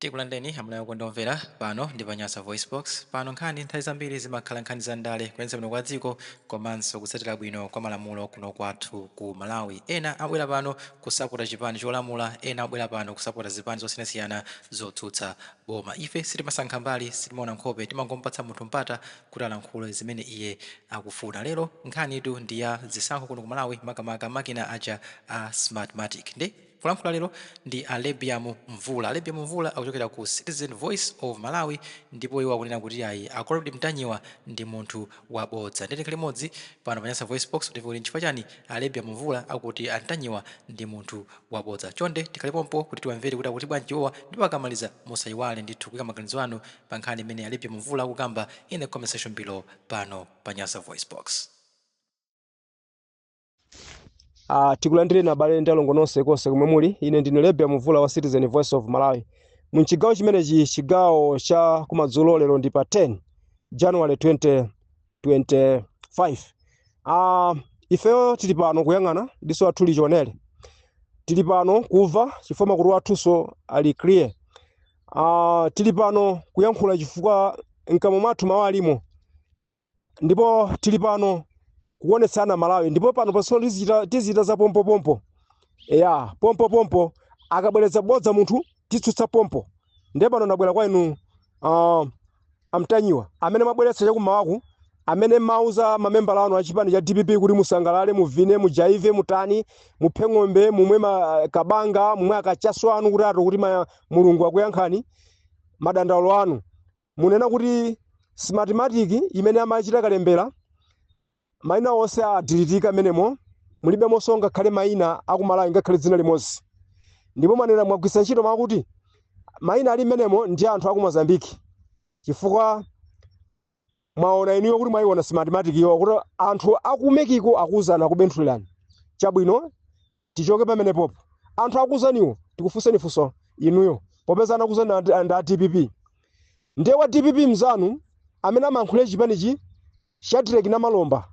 Tikulandireni amalawi okondedwa omvera, pano ndi pa Nyasa VoiceBox, pano nkhani nthawi zambiri zimakhala nkhani za ndale, kuyendetsa bwino kwa dziko komanso kutsatira bwino kwa malamulo kuno kwathu ku Malawi. Ena abwera pano kusapota chipani cholamula, ena abwera pano kusapota zipani zosiyanasiyana zotsutsa boma. Ife sitimasankha mbali, sitimaona nkhope, timangomupatsa munthu mpata kuti alankhule zimene iye akufuna. Lero nkhanitu ndi ya zisankho kuno ku Malawi, makamaka makina aja a Smartmatic. Ndi. Kulankhula lero ndi a Lebiam Mvula. A Lebiam Mvula akuchokera ku Citizen Voice of Malawi ndipo iwo akunena kuti ayi a Comrade Mtanyiwa ndi munthu wa bodza. Ndiye tikhale limodzi pano pa Nyasa VoiceBox kuti timve kuti nchifukwa chani a Lebiam Mvula akuti a Mtanyiwa ndi munthu wa bodza. Chonde tikhale pompo kuti tiwamvere kuti akuti bwanji iwowa ndipo akamaliza musayiwale ndithu kuika maganizo anu pa nkhani imene a Lebiam Mvula akukamba in the comment section below pano pa Nyasa VoiceBox. Uh, tikulandireni abale ndi alongo nonse konse komwe muli ine ndine lebia mvula wa citizen voice of malawi mchigawo chimenechi chigawo cha kumadzulo lero ndi pa 10 january 2025 uh, ifeyo tili pano kuyang'ana diso lathu lili chionere tili pano kumva chifukwa makutu athunso ali clear uh, tili pano kuyankhula chifukwa mkamwa mwathu mawu alimo ndipo tili pano kuonetsana malawi ndipo panopatso tizichita tizichita za pompopompo eya pompopompo akabweretsa bodza munthu titsutsa pompo ndiye pano ndabwera kwa inu uh, amtanyiwa amene mwabweretsa chakumawaku amene mwauza mamembala anu achipani cha dpp kuti musangalale muvine mujaive mutani muphe ng'ombe mumwe ma- kabanga mumwe akachaso anu kuti ati kuti ma- mulungu akuyankhani madandaulo anu Munena kuti Smartmatic imene amachita kalembera, maina onse adilitika mmenemo, mulibemonso ngakhale maina a ku Malawi ngakhale dzina limodzi. Ndipo mwanena mwagwiritsa ntchito mawu akuti maina ali mmenemo ndi a anthu a ku Mozambique chifukwa mwaona inuyo kuti mwaiona Smartmatic yo kuti anthu a ku Mexico akuuzani, akubenthulirani. Chabwino, tichoke pamenepopo anthu akuzaniwo tikufunseni funso inuyo popeza anakuzani ndi ndi a dpp ndiye wa dpp mzanu amene amayankhulira chipanichi shadrack namalomba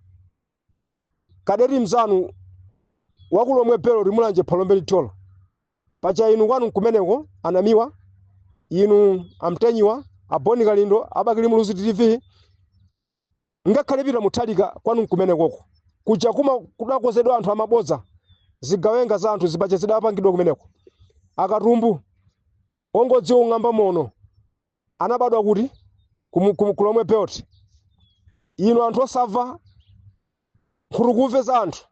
kadeti mzanu wakulomwe belt mulanje phalombe thyolo paja inu kwanu nkumeneko anamiwa inu amtanyiwa abon kalindo abakili muluzi tv Ngakhale Peter Mutharika kwanu nkumenekoko kuja kuma kudakonzedwa anthu amabodza zigawenga za anthu zibaja zidapangidwa kumeneko akatumbu ongodziwa kung'amba moni anabadwa kuti Kumu- kumu- kulomwe belt inu anthu osamva nkhutukumve za anthu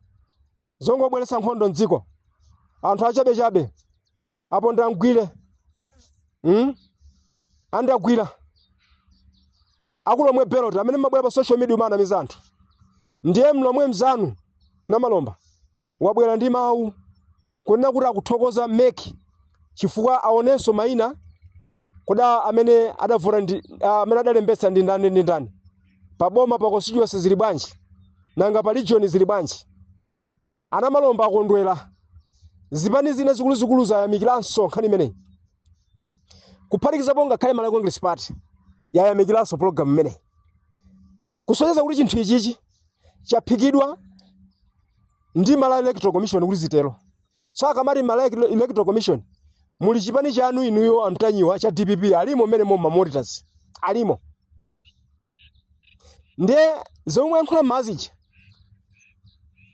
zongobweretsa nkhondo mdziko anthu achabechabe apo ndamugwira mm? andagwira aku Lomwe belt amene mmabwera pa social media kumanamiza anthu ndiye mlomwe mzanu namalomba wabwera ndi mawu kunena kuti akuthokoza MEC chifukwa aonenso maina kuti amene adavota ndi ah, amene adalembetsa ndi ndani ndi ndani pa boma pa constituency zili bwanji nanga pa region zili bwanji A Namalomba akondwera. Zipani zina zikuluzikulu zayamikiranso nkhani imeneyi, kuphatikizapo ngakhale Malawi Congress Party yayamikiranso pulogalamu imeneyi, kusonyeza kuti chinthu ichichi chaphikidwa ndi Malawi Electoral Commission kuti zitero. So akamati Malawi Electoral Commission muli chipani chanu inuyo a Mtanyiwa cha dpp alimo mmenemo ma monitors alimo. ndiye zomwe mwayankhula mmadziwa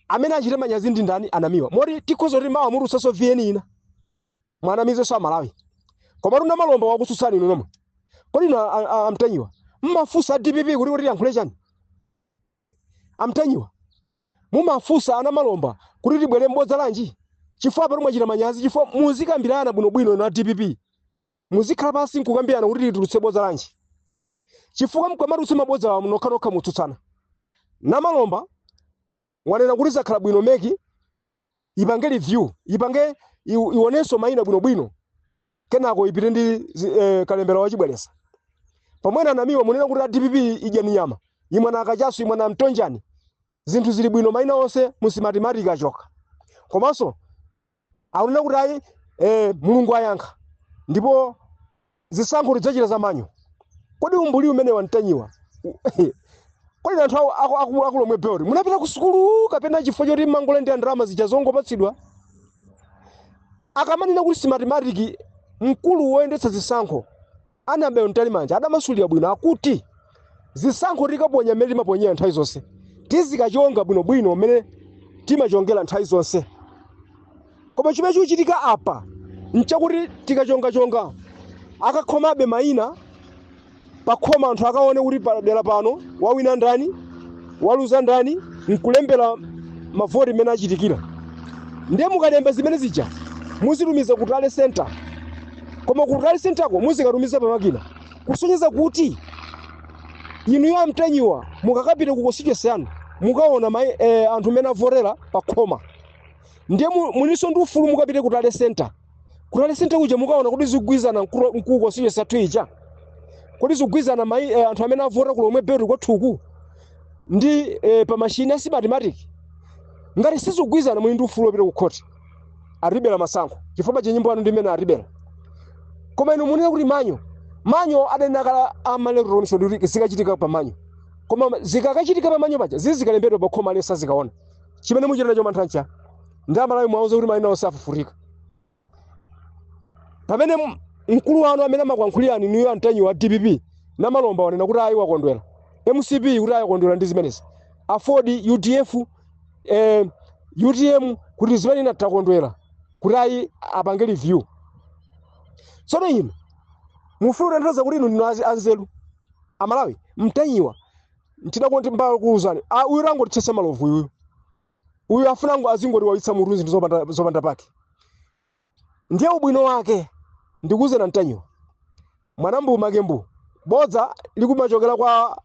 amene achite manyazi ndi ndani a Namiwa moti tikhoza kuti mawa mutulutsanso vn ina mwanamizenso amalawi koma tu Namalomba wakutsutsani inu nomwe kodi inu a- a- a- amtanyiwa mmafunsa dpp kuti kuti yankhule chani amtanyiwa mumafunsa a Namalomba kuti tibwere m'bodza lanji chifukwa pano mwachita manyazi chifukwa muzikambirana bwinobwino ndi a dpp Muzikhala pansi n'kukambirana kuti titulutse bodza lanji, chifukwa mkamatulutsa mabodzawa nokhanokha mutsutsana. Namalomba wanena kuti zakhala bwino mec ipange review, ipange iw- ionenso maina bwinobwino kenako ipite ndi zi- eh, kalembera wa chibwereza. Pomwe a Namiwa munena kuti a dpp idya minyama, imwe na kachasu, imwe na mtonjani, zinthu zili bwino maina onse mu Smartmatic achoka. Komanso akunena kuti ayi eh, mulungu ayankha ndipo zisankho tidzachita za manual kodi umbuli umenewu a Mtanyiwa kodi anthu aku- aku- aku- aku Lomwe belt munapita ku sukulu kapena chifukwa choti mmangolandira ndalama zija zongopatsidwa akamanena kuti Smartmatic mkulu woyendetsa zisankho Annabel Mtalimanja adamasulira bwino akuti zisankho tikaponya mmene timaponyera nthawi zonse, tizikachonga bwinobwino mmene timachongera nthawi zonse. Koma chimene chikuchitika apa nchakuti tikachongachonga akakhomabe maina pakhoma anthu akaone kuti pa dera pano wawina ndani. waluza ndani nkulembera mavoti mmene achitikira ndiye mukalemba zimene zija muzitumiza ku tally center koma ku tally centerko muzikatumiza pa makina kusonyeza kuti inuyo amtanyiwa mukakapita ku constituency yanu mukaona ma, eh, anthu mmene avotera pa khoma ndiye mu- mulinso ndi ufulu mukapite ku tally center ku tally center kuja mukaona kuti zikugwirizana mkulu- mkulu constituency yathu ija kodi zikugwirizana mai eh, anthu amene avota ku lomwe belt kwathuku ndi eh, pa mashini a smartmatic ngati sizikugwirizana muli ndi ufulu wopita ku khoti atibera masankho chifukwa cha nyimbo yanu ndi imene atibera koma inu munena kuti manual manual adanena kale a electoral commission ndi kuti zikachitika pa manual koma zikakachitika pa manual paja zizikalembedwa pa khoma aliyense azikaona chimene muchita nacho mantha nchani amalawi mwauza kuti maina onse afufutika pamene m- mkulu wanu amene amakuyankhulirani inuyo amtanyiwa wa dpp namalomba wanena kuti ayi wakondwera mcp kuti ayi wakondwera ndi zimenezi aford udf eh, utm kuti zimene inatakondwera kuti ayi apange review tsono inu mufuna kutanthauza kuti inu ndinu azi- anzeru amalawi mtanyiwa ntidakonti mbala kuuzani Ah, uyu angotithetsa malovu uyu uyu afuna ngo azingotiwawitsa mutu zinthu zopanda, zopanda pake ndiye ubwino wake ndikuuzeni a mtanyiwa mwana mbu make mbu bodza likumachokera kwa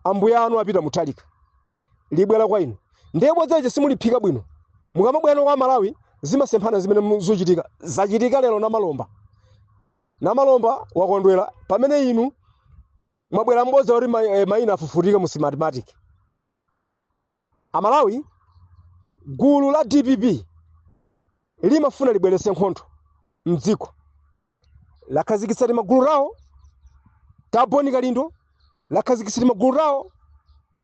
ambuya anu apita muthalika libwera kwa inu ndiye bodza lija simuliphika bwino mukamabwera kwa amalawi zimasemphana zimene mu- zochitika zachitika lero namalomba namalomba wakondwera pamene inu mwabwera mbodza kuti ma- eh, mayina afufutika mu smartmatic amalawi gulu la dpp limafuna libwerese nkhondo mdziko lakhazikitsa timagulu tawo ta bon kalindo lakhazikitsa timagulu tawo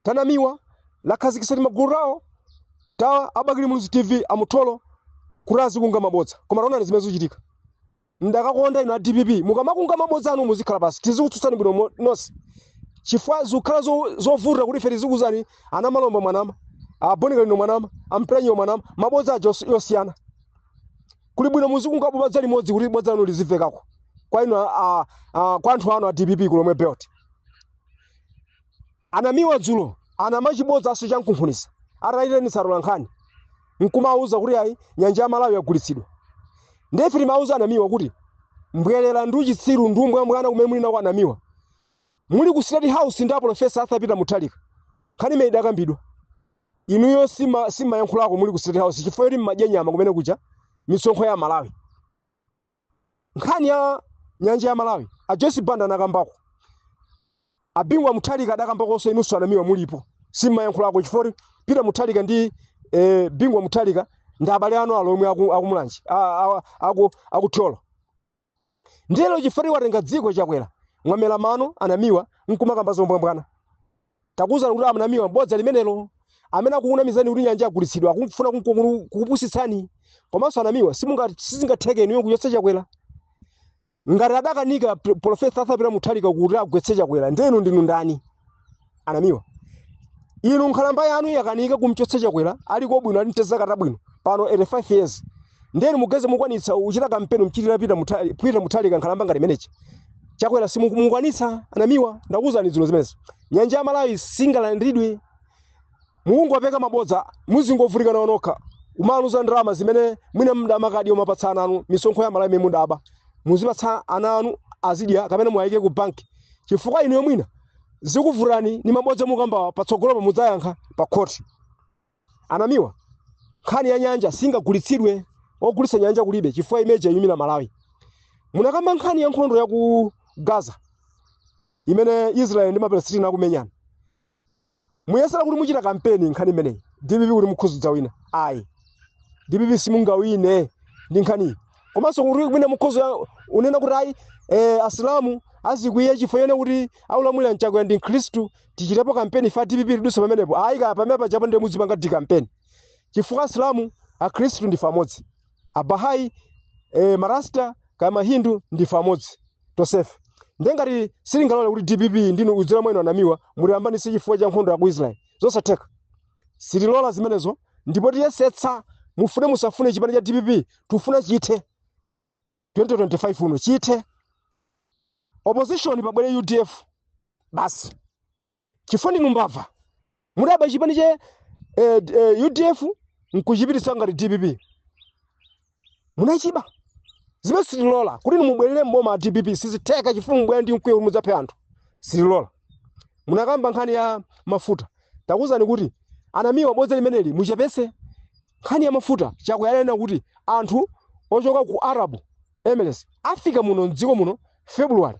tanamiwa lakhazikitsa timagulu tawo ta abakili muluzi tv amutolo kuti azikunga mabodza koma taonani zimene zikuchitika Ndakakonda inu a dpp mukamakunga mabodza anu muzikhala pasi tizikutsutsani bwino mo- nonse chifukwa zikukhala zo- zovuta kuti ife tizikuuzani anamalomba mwanama abon kalindo mwanama amtanyiwa mwanama mabodza aja os- yosiyana kuli bwino muzikunga bodza limodzi kuti bodza lanu lizivekako kwa inu a- a- a- kwa anthu anu a dpp kulomwe belt A Namiwa dzulo anama chibodzaso cha mkunkhuniza ataitanitsa atolankhani nkumawauza kuti ayi nyanja ya Malawi yagulitsidwa. Ndiye ife timawauza a Namiwa kuti mbwelera ndi uchitsiru ndi umbwambwana kumene muli nako a Namiwa. Muli ku State House ndi a Professor Arthur Peter Mutharika. Nkhani imene idakambidwa. Inuyo simmayankhulako muli ku State House chifukwa choti mmadya nyama kumene kuja misonkho ya Malawi. nkhani ya nyanja ya malawi a joyce banda anakambako abingu wa muthalika adakambakonso inunso anamiwa mulipo simmayankhulako chifukwa peter muthalika ndi eh, bingu wa muthalika ndi abale anu alomwe aku- akumulanji a- a- aku- akuthyolo ndiye lero chifukwa watenga dziko chakwera mwamela mano anamiwa nkumakamba zombwambwana Takuuzani kuti a Namiwa bodza limenelo. Amene akukunamizani kuti nyanja yagulitsidwa akufuna kunko- kukupusitsani. Komanso a Namiwa simunga- sizingatheke inuyo kuchotsa Chakwera. Ngati adakanika P- Professor Arthur Peter Mutharika kuti agwetse Chakwera, ndiye inu ndinu ndani? A Namiwa. Inu nkhalamba yanu yakanika kumchotsa Chakwera, aliko bwino ali ntezakata bwino. pano 85 years ndiye inu mugeze mukwanitsa kuchita kampeni mchitira Peter Mutharika Peter Mutharika nkhalamba ngati mene nchi chakwera simukwanitsa anamiwa ndakuuzani zino zimenezo nyanja ya malawi singalandidwe mukungopeka mabodza muzingovutika nawo nokha umaluza ndalama zimene mwina mudamakadya kumapatsa ana anu misonkho ya malawi imene mudaba muzipatsa ana anu azidya kapena muwayike ku banki chifukwa inuyo mwina zikuvutitsani ni mabodza mukukambawa patsogolopo mudzayankha pa khoti Anamiwa, nkhani ya nyanja singagulitsidwe, ogulitsa nyanja kulibe chifukwa imene ija iyimira Malawi. Munakamba nkhani ya nkhondo ya ku Gaza imene Israel ndi Mapalestina akumenyana. Muyesera kuti muchita kampeni nkhani imeneyi DPP kuti mukhuzidza wina. Ayi. DPP simungawine ndi nkhaniyi. Komanso kuti mwina mukhoza ya- unena kuti ayi eh, Asilamu azikwiya chifukwa chonena kuti akulamulira Chakwera ndi Mkhristu tichitepo kampeni ife a dpp tiduse pamenepo ayi kaya pamene pajapo ndiye muzipangadi kampeni chifukwa asilamu akhristu ndife amodzi abahai e, marasta kaya mahindu ndife amodzi tonsefe ndiye ngati sitingalole kuti dpp ndinu kudzera mwa inu anamiwa mutiyambanitse chifukwa cha nkhondo ya ku israeli zosatheka sitilola zimenezo ndipo tiyesetsa mufune musafune chipani cha dpp tufuna chithe 2025 uno chithe opposition pabwere udf basi chifukwa ndinu mbava mudaba chipani cha eh, d- eh, udf nkuchipititsa ngati dpp munachiba zimene sitilola kuti inu mubwerere mboma a dpp sizitheka chifukwa mubwera ndi mkwiyo kuti mudzaphe anthu sitilola munakamba nkhani ya mafuta takuuzani kuti anamiwa bodza limeneli muchepese Nkhani ya mafuta, Chakwera ananena kuti anthu ochoka ku Arab Emirates afika muno m'dziko muno February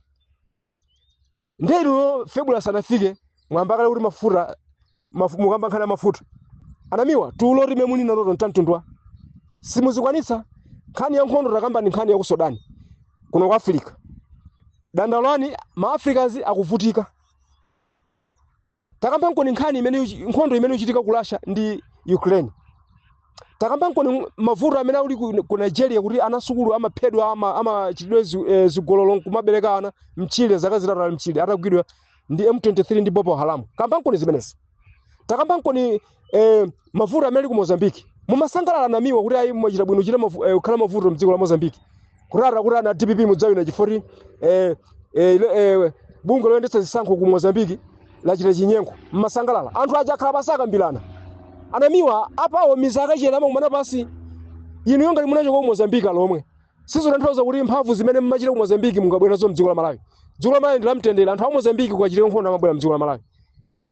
nde inuyo February sanafike mwayamba kale kuti mafuta mafu- mukamba nkhani ya mafuta anamiwa tulo limene muli nalo tontantundwa simuzikwanitsa nkhani ya nkhondo takambani nkhani ya ku Sudan kuno ku Africa dandaulani ma Africans akuvutika Takambankoni nkhani imene iku- nkhondo imene ikuchitika ku Russia ndi Ukraine. Takambankoni mavuto amene ali ku, ku Nigeria kuti ana asukulu amaphedwa ama amachitidwe zi- eh, zigololo nkumabereka ana mtchire zaka zitatu ali mtchire atagwidwa ndi M23 ndi Boko Haram. Kambankoni zimenezi. Takambankoni eh, mavuto amene ali ku mozambiki mumasangalala anamiwa kuti ayi mwachita bwino chita mavu- eh, kukhala mavuto mdziko la mozambiki kurara kuti ana dpp mudzawina chifoti eh, eh, ile- eh, bungwe loyendetsa zisankho ku mozambiki lachita chinyengo mumasangalala anthu aja akhala pansi akambirana anamiwa apawo mizi akachena amakumana pansi inuyo ngati munachoka ku mozambiki alomwe sizotanthauza kuti mphamvu zimene mmachita ku mozambiki mungabwere nazo mdziko la malawi dziko la malawi ndi lamtendere anthu a mozambiki kukachitika nkhondo amabwera mdziko la malawi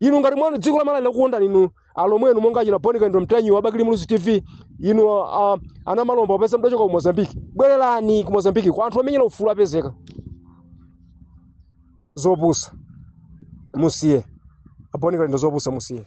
inu ngati mwana dziko la malawi lakukondani inu alomwenu monga achina boni kalindo ntanyiwa wa bakili muluzi tv inu uh, ana malomba popeza mudachoka ku mozambiki bwererani ku mozambiki kwa anthu omenyera ufulu apezeka zopusa musiye a boni kalindo zopusa musiye